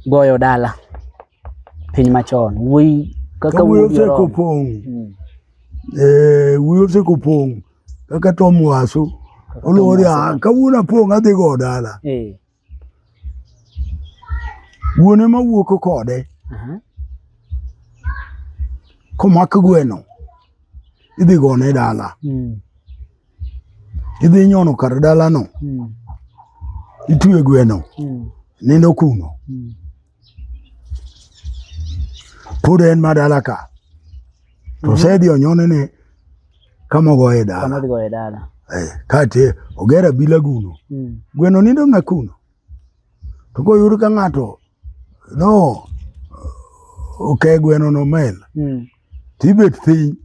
goyo dala piny machon wuoyi kaka wuoyi osekopong' hmm. eh, wuoyi osekopong' kaka tom wasu oluwore ah, kawuono apong' adhi go dala eh. wuone ma wuok kode komak gweno idhi gone dala hmm. idhi nyono kar dalano hmm. itwe gweno hmm. nindo kuno hmm. pod en ma dala ka to mhm. osedhi onyone ni kama ogoye dala eh, kate oger abila guno hmm. gweno nindo na kuno to koyud ka ng'ato no oke gweno nomel hmm. tibet piny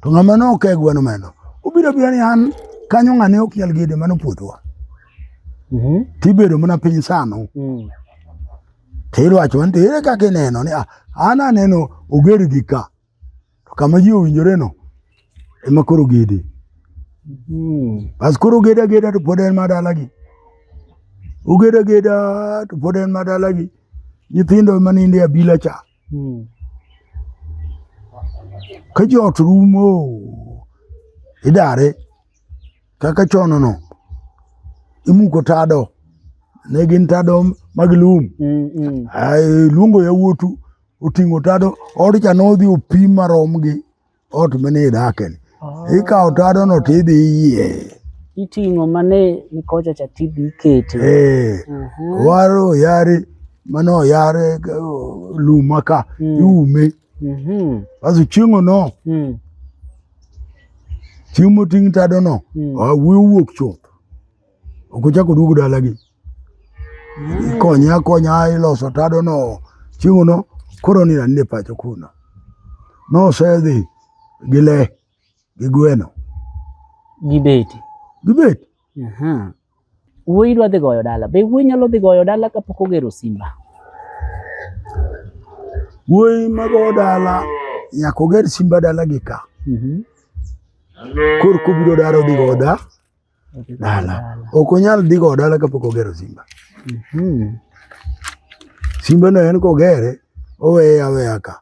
To ng'ama ne ok e gweno meno, obiro biro ni an kanyo ng'ane ok nyal gede mano puodhowa. Mhm. Tibedo mana piny sano. Mm. Tiwacho ni ere kaka ineno ni ah, an aneno oger gi ka. To kama ji owinjore no ema koro gede. Mm. Bas koro ogeda geda to pod en madalagi. Ogeda geda to pod en madalagi. Nyithindo maninde abila cha. Hmm. Ka joot rumo idare kaka chonono imuko tado ne gin tado mag lum hmm, hmm. luongo yawuotu oting'o tado odcha nodhi opim maromgi ot mane idake ni Oh. ikawo tadono to idhi iyie Iting'o mane ni kocha cha tidhi ikete. Eh, Aha. waro yare mano yare ka- lum maka Mm. iume Mhm. kaso chieng'o no Mm. chieng' moting' tadono Mm. ah, wuyi owuok chuth ok ochak oduog dalagi ikonye akonya iloso tadono chieng'ono koro ni nani e pacho kuno nosedhi gi le gi gweno gi beti gi beti wuoyi dwa dhi goyo dala be wuoyi nyalo dhi goyo dala kapok ogero simba wuoyi mago dala nyaka oger simba dala gi ka mhm. koro kobiro daro dhi goda dala. Ok onyal dhi go dala kapok ogero simba. Mhm. Simba no en kogere oweye aweya ka.